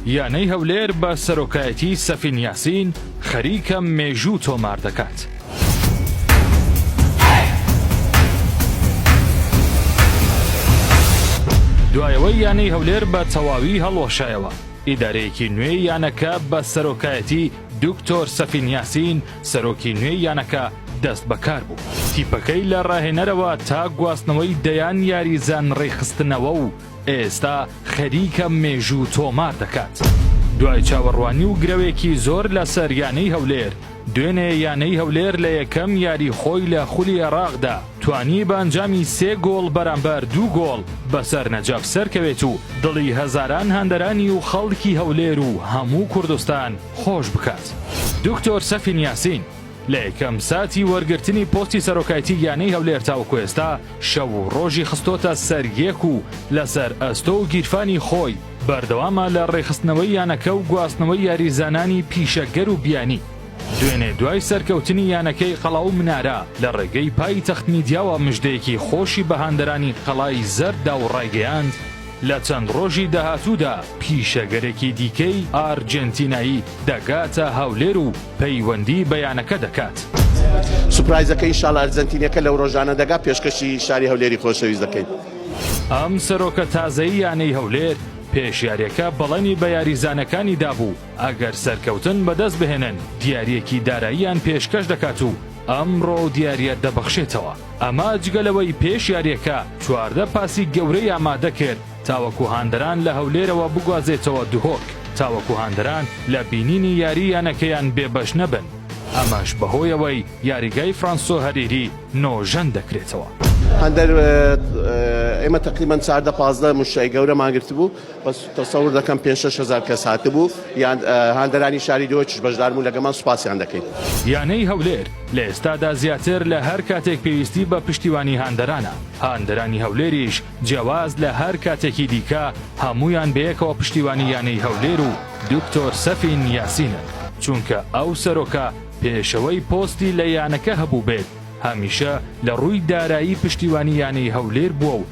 یانەی هەولێر بە سەرۆکایەتی سەفین یاسین خەریکە مێژوو تۆمار دەکات. دوایەوەی یانەی هەولێر بە تەواوی هەڵوەشایەوە ئیدارەیەکی نوێ یانەکە بە سەرۆکایەتی دکتۆر سەفین یاسین سەرۆکی نوێ یانەکە دەست بەکار بوو تیپەکەی لە ڕاهێنەرەوە تا گواستنەوەی دەیان یاریزان ڕێخستنەوە و ئێستا خەریکە مێژوو تۆمار دەکات. دوای چاوەڕوانی و گرەوێکی زۆر لەسەر یانەی هەولێر، دوێنێ یانەی هەولێر لە یەکەم یاری خۆی لە خولی عێراقدا توانی بە ئەنجامی سێ گۆڵ بەرامبەر دوو گۆڵ بەسەر نەجەف سەرکەوێت و دڵی هەزاران هاندەرانی و خەڵکی هەولێر و هەموو کوردستان خۆش بکات. دکتۆر سەفین یاسین. لە یەکەم ساتی وەرگرتنی پۆستی سەرۆکایتی یانەی هەولێر تاوەکو ئێستا شەو و ڕۆژی خستۆتە سەر یەک و لەسەر ئەستۆ و گیرفانی خۆی بەردەوامە لە ڕێکخستنەوەی یانەکە و گواستنەوەی یاریزانانی پیشەگەر و بیانی. دوێنێ دوای سەرکەوتنی یانەکەی قەڵا و منارە لە ڕێگەی پایتەخت میدیاوە مژدەیەکی خۆشی بە هاندەرانی قەڵای زەرد دا و ڕایگەیاند، لە چەند ڕۆژی داهاتوودا پیشەگەرێکی دیکەی ئارجێنتینایی دەگاتە هەولێر و پەیوەندی بە یانەکە دەکات. سوپرایزەکە ئینشاڵا ئەرجەنتینیەکە لەو ڕۆژانە دەگا پێشکەشی شاری هەولێری خۆشەویست دەکەین. ئەم سەرۆکە تازەی یانەی هەولێر پێش یاریەکە بەڵێنی بە یاریزانەکانی دابوو، ئەگەر سەرکەوتن بەدەست بهێنن دیاریەکی داراییان پێشکەش دەکات و ئەمڕۆ و دیاریە دەبەخشێتەوە ئەمە جگە لەوەی پێش یاریەکە چواردە پاسی گەورەی ئامادە کرد تاوەکو هاندەران لە هەولێرەوە بگوازێتەوە دهۆک تاوەکو هاندەران لە بینینی یاری یانەکەیان بێبەش نەبن ئەمەش بەهۆیەوەی یاریگای فرانسۆ هەریری نۆژەن دەکرێتەوە. هاندەر ئێمە تەقریبەن چاردە پازدە موشتەی گەورەمان گرتبوو. بەس تەسەور دەکەم پێنج شەش هەزار کەس هاتبوو یان هاندەرانی شاری دۆچش بەشدار بوون لەگەمان سوپاسیان دەکەین. یانەی هەولێر لە ئێستادا زیاتر لە هەر کاتێک پێویستی بە پشتیوانی هاندەرانە، هاندەرانی هەولێریش جیاواز لە هەر کاتێکی دیکە هەموویان بەیەکەوە پشتیوانی یانەی هەولێر و دکتۆر سەفین یاسینن، چونکە ئەو سەرۆکە پێشەوەی پۆستی لە یانەکە هەبووبێت هەمیشە لە ڕووی دارایی پشتیوانی یانەی هەولێر بووە و